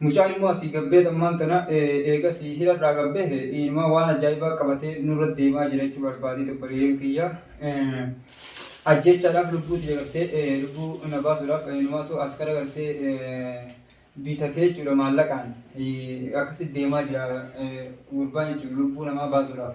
Mucaan immoo asii gad beet ammaan tana eegas hidharraa gad bahe inumaa waan ajaa'ibaa qabatee nurra deemaa jira jechuu barbaadee dabbaliyeen kiyya. Ajjeechaadhaaf lubbuu tiyya gartee lubbuu na baasuudhaaf inumaatu askara gartee bitatee jechuudha maallaqaan akkasitti deemaa jira gurbaan jechuudha lubbuu namaa baasuudhaaf.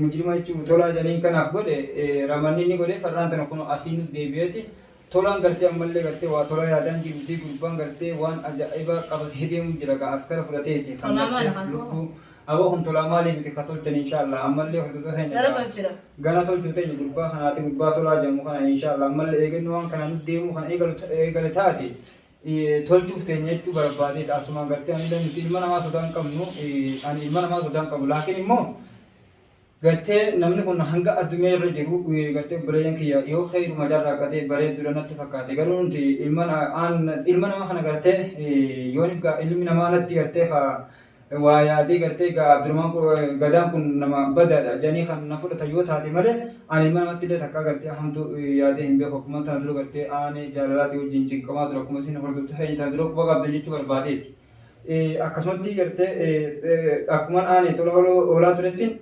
Mujrima jechuun tolaa janiin kanaaf godhe ramanni inni godhe farraan tana kun asii nu deebi'eeti tolaan gartee ammallee gartee waa tolaa yaadaan jiruutii gurbaan gartee waan ajaa'ibaa qabatee deemuun jira ka askara fudhateeti kan gartee lubbuu aboo kun tolaa maalii miti ka tolchan inshaallah ammallee hordofee keenya gana tolchuu teenya gurbaa kanaati gurbaa tolaa jedhamu kana inshaallah ammallee eegannu waan kana nu deemuu kan eegale taate tolchuuf teenya jechuu barbaadeedha asumaan gartee ani nuti ilma namaa sodaa hin qabnu ani ilma namaa sodaa hin qabu laakiin immoo gartee namni kun hanga addunyaa irra jiru gartee bireeyyan kiyya yoo keeyiruma jarraa katee bareeddudha natti fakkaate garuu nuti ilma ilma nama kana gartee yoo ilmi namaa natti gartee ka waa yaadee gartee egaa Abdurahmaan kun Gadaan kun nama badaadha jedhanii kan na fudhatan yoo taate malee ani ilma namatti illee takkaa gartee hamtu yaadee hin beeku akkuma tana dura gartee aanee jaalalaatii wajjin cinqamaa ture akkuma isin hordoftu feenya tana dura quba qabdan jechuu barbaadeeti. Akkasumatti gartee akkuman aanee tola hoolaa turettiin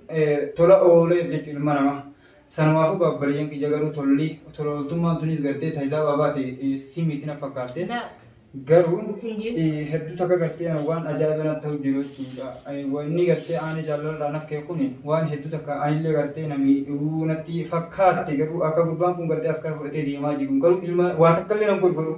tola ooleef jechuudha ilma namaa. Sanumaafuu gaabbariyyan kiyya garuu tolli tola ooltummaan tunis gartee ta hisaabaa baate si miti na fakkaatte. Garuu hedduu takka gartee waan ajaa'iba natti ta'u jiru jechuudha. Wanni gartee aanee jaalalarraa naf ka'e kun waan hedduu takka anillee gartee na miidhuu natti fakkaatte garuu akka gurbaan kun gartee askara fudhatee deemaa jiru garuu ilma waa takkallee nan godhu garuu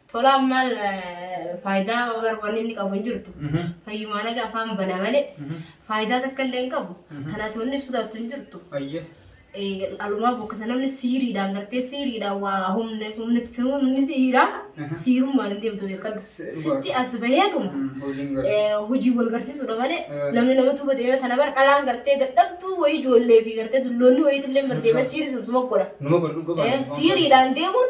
Tolaan maal faayidaa yookaan wanni inni qabu hin jirtu. Fayyumaa nagaa afaan bana malee faayidaa takka illee hin qabu. Kanaaf wanni ibsu taatu hin jirtu. Ayyee. Alumaa bokkisa namni siiriidhaan gartee siiriidhaan waa humna humna humni dhiiraa siirummaan hin deemtu beekadhu. Sitti as baheetuma. Hojiin garsi. hojii wal garsiisudha malee Eh. namni nama tuba deemee sana bar dhalaan gartee dadhabduu wayii ijoollee fi gartee dulloonni wayii illee bar deemee siirisan suma godha. Numa godhu Eh, gobaadha. siiriidhaan deemuun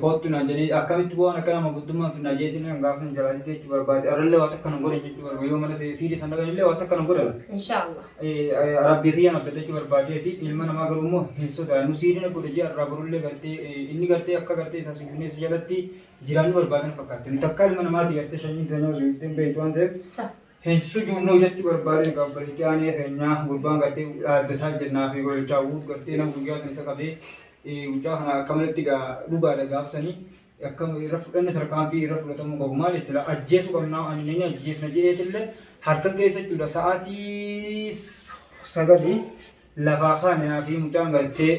Koottu naan jedhee akkamitti waan akkana manguddummaan finnaa jee jennaan gaafa san jalaa didee jechuu barbaade arrallee waan takka nan godhan jechuu barbaade yoo mana siidii san dhaqan illee waan takka nan godhan Inshaallah. rabbii kiyya naf dadhachuu barbaadeeti ilma namaa garuu immoo hin sodaannu siidii na godha jee arraa borullee gartee eh, inni gartee akka gartee isaa sujuunee si jalatti jiraannu barbaadan fakkaatte nu takkaa ilma namaati gartee shanyiin teenyaa sujuuddeen beektu waan ta'eef Sa. Hin sujuudnuu jechuu barbaadeen kan gadi jaanee keenyaa gurbaan gartee dhaaddataa jennaa fi gololchaa guut gartee nama guyyaa san isa qabee mucaa kana akkamatti gaa dhugaadha gaafsanii akkam irra fudhanne tarkaanfii irra fudhatamuu qabu maali sila ajjeesuu qabnaa ani nini ajjeesna jedheetillee harka keessa jechuudha sa'aatii sagalii lafaa kaane naafii mucaan gartee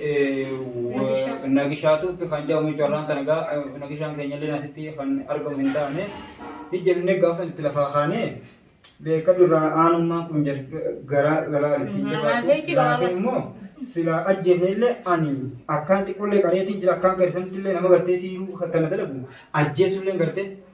nagishaatu kan jedhamu jechuudha irraan tana gaa nagishaan keenyallee asitti kan argamu hin taane ijjennee gaafa itti lafaa kaane beeka durraa aanummaan kun garaa garaa itti jabaate laafee immoo silaa ajjeefnellee ani akkaan xiqqollee qareetiin jira akkaan keessanitti illee nama gartee siiruu tana dalagu ajjeesullee gartee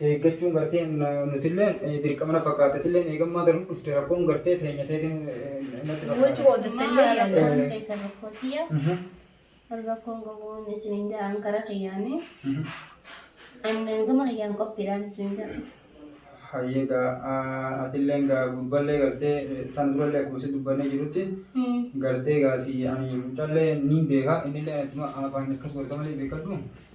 eeggachuun gartee nutilleen dirqama na fakkaata atilleen eegammaa tan dhufte rakkoon gartee teenya teetiin natti Wajji fakkaata. qoodattallee Mama yaadaan. rakkoon teessan rakkoo kiyya. Mhm, Rakkoon gogoon isiniin ja'an kara kiyyaanii. mhm. Annan gama kiyyaan qophiidhaan isiniin ja'a. Hayyee gaa ah, atilleen gaa gurballee gartee eh, tan durallee akkuma si dubbannee jirutti gartee gaa si ani mucallee niin beeka innillee akkuma afaan akkas godhata malee beekadhu.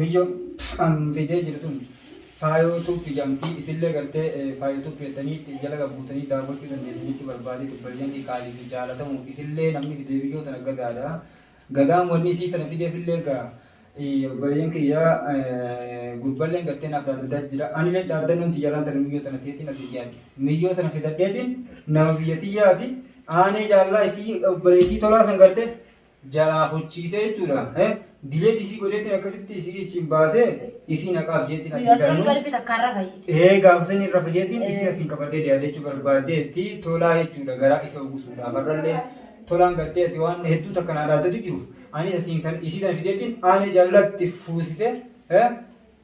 Miyyo an fidee jiru tun faayoo tube jamtii isillee gartee faayoo tube jettanii itti jala gabbuutanii daawwachuu dandeessan jechuu barbaadee tubballeen kee qaalii fi jaalatamuuf isillee namni fidee miyyoo tana gadaadha gadaan wanni isii tana fideef illee gaa obboleeyyan kiyyaa gurballeen gartee naaf dhaaddataa jira anillee dhaaddannoon tiyyalaan tana miyyoo tana teetiin asii yaadde miyyoo tana fidadheetiin nama biyya tiyyaati aanee jaallaa isii obboleettii tolaa san gartee jalaa fochiisee jechuudha. Eh, Dileet isii godheetti akkasitti isii ichiin baasee isii naqaaf jeetti asiin Asiin garuu. galbi takkaan rafa jee. Ee gaafa sanii rafa jeetiin Eh. isii asiin qabadee deeadachuu barbaaddeetti tolaa jechuudha garaa isa ugusuudhaaf har'allee tolaan gartee ati waan hedduu takka naa dhaaddatu jiru anis asiin kan isii tana fideetiin aanee jaalatti fuusisee eh,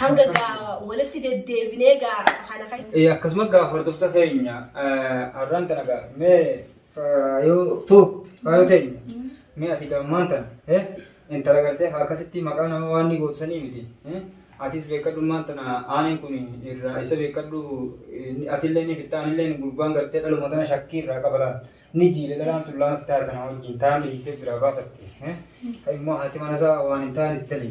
Hanga gaa walitti deddeebinee gaa haala kan Eh, akkasuma gaa hordofta keenya eh, arraan tana gaa mee faayoo tuu faayoo teenya mee ati gaa ammaan tana eh, intala gartee akkasitti maqaa nama waan ni gootu sanii miti eh, atis beekadhu ammaan tana aaneen kun irraa isa beekadhu eh, ni- atillee ni fitta anillee gurbaan gartee dhaluma tana shakkii irraa qabalaan ni jiile dhalaan tullaa natti taatana wajjin taa'an dhiittee biraa baafatte eh, immoo haati mana isaa waan hin taane itti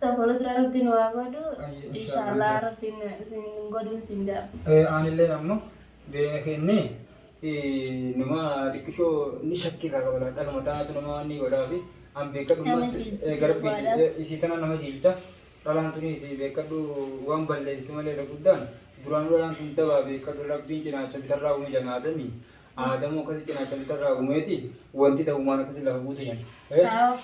Ta fuuldura rabbiin waa godhu Ayyo, inshallah. inshaallah rabbiin isin hin godhin siin jedha. Eh, aanillee namnu beena kenne eh, nama xiqqishoo ni shakki irraa qaba laata dhagama taanatu nama waan ni godhaa fi an beekadhu Nama mas jiilchiti eh, garabbii duwwaadha. eh, isii tana nama jiilta dhalaan tuni isii beekadhu waan balleessitu malee irra guddaan duraanuu dhalaan tun dabaa beekadhu rabbiin cinaacha bitarraa uume janaadami Aadamoo akkasi cinaacha bitarraa uumeeti wanti ta'umaan akkasi lafa buute yan.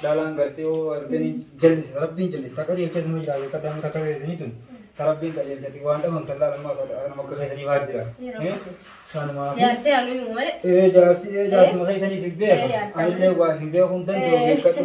Dhalaan gartee yoo arganii jallisa rabbiin jallisa takka deemtee suma jiraatu akka daamuu takka deemtanii tun ta rabbiin qajeelchati waan dhaban tallaa nama akka nama akka keessanii waa jira. Sanumaa fi Jaarsi haaluu malee. ee jaarsi ee jaarsuma keessanii si beeka anillee waa isin beekuun danda'u beekadhu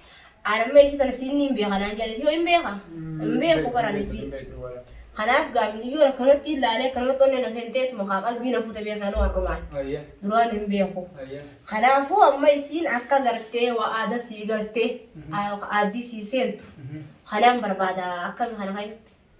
Aan amma isii tana siinni hin beeka naan jedhan isii hoo hin beeka? Hin beeku baraan isii. Kanaaf gaafin iyyuu akkanumatti ilaalee akkanumatti onneen na seenteetuma kaa qalbii na fuute beekaa nu har'umaan. Duraan hin beeku. Kanaafuu amma isiin akka gartee waa aada sii galtee aaddii sii seentu kanaan barbaada akkami kana keessatti.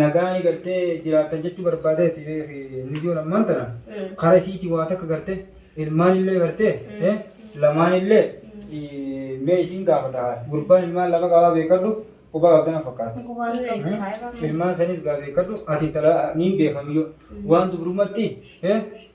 nagaa eegaltee jiraattan jechuu barbaadeeti beeki nuyyoon ammaan tana kara isiiti waa takka garte ilmaan illee garte eh, lamaan illee eh, mee isin gaafadha haa gurbaan ilmaan lama qabaa beekadhu qubaa qabdana fakkaata Eh, ilmaan sanis gaa beekadhu ati intala niin beekamiyyoo waan dubrumatti eh,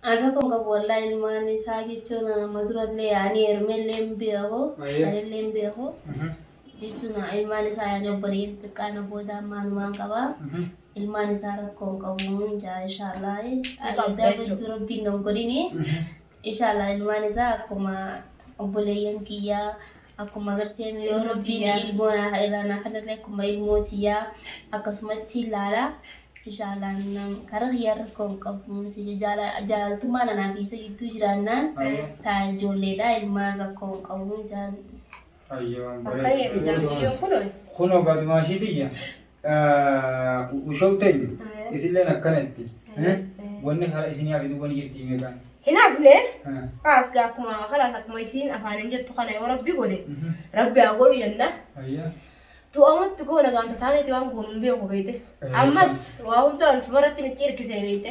An rakko hin qabu wallahi ilmaan isaa jechuun amma durallee ani hermellee hin beeku Ayyee. anillee hin beeku Mhm. jechuun ilmaan isaa ani obboleeyyan xiqqaana booda amma anumaan qaba Mhm. ilmaan isaa rakko hin qabu hin jaa inshaallah ani qabda adda jechuudha. fiddu rabbiin nan godhini Mhm. inshaallah ilmaan isaa akkuma obboleeyyan kiyyaa akkuma gartee yoo Ilmoo rabbiin tiyyaa. ilmoo naa irraa naa kennellee akkuma ilmoo tiyyaa akkasumatti ilaala. Inshaallah nam karaa kiyyaa rakkoo hin qabu. Jaalaltummaa nanaa fi isa gidduu jiraannaan Ayyo. taa ijoolleedha ilmaan rakkoo hin qabu jaalladha. Ayyo. Akkana jedhu jaartii yoo kunuun. Kunoo Faatimaa ishii tiyya. Ushoo teenyu isilleen akkana itti wanni karaa isin yaa fiduu wanni jirti himee kaan. Hin hafne kaas gaa akkuma kalaas akkuma isiin afaaniin jettu kana yoo rabbi godhe rabbi haa godhu jenna. Tu'amutti goona gaanta taaneeti waan goonu hin beeku beekte. Ammas waa hundaan sumarratti ni cirkisee beekte.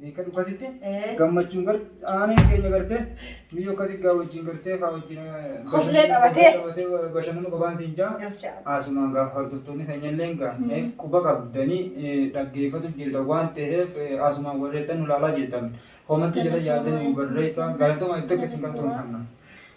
Beekadhu kasitti gammachuun gar aaneen keenya gartee biyya akkasii gaa wajjin gartee kaa wajjin Koflee qabatee. bashannanu qabaan siin jaa haasumaan gaa hordoftoonni keenya illee gaa quba qabdanii dhaggeeffatu jirtan waan ta'eef haasumaan warreettan nu laalaa jirtan komatti jala yaadanii nu barreessaa galatoomaa itti akka isin galatoomfanna.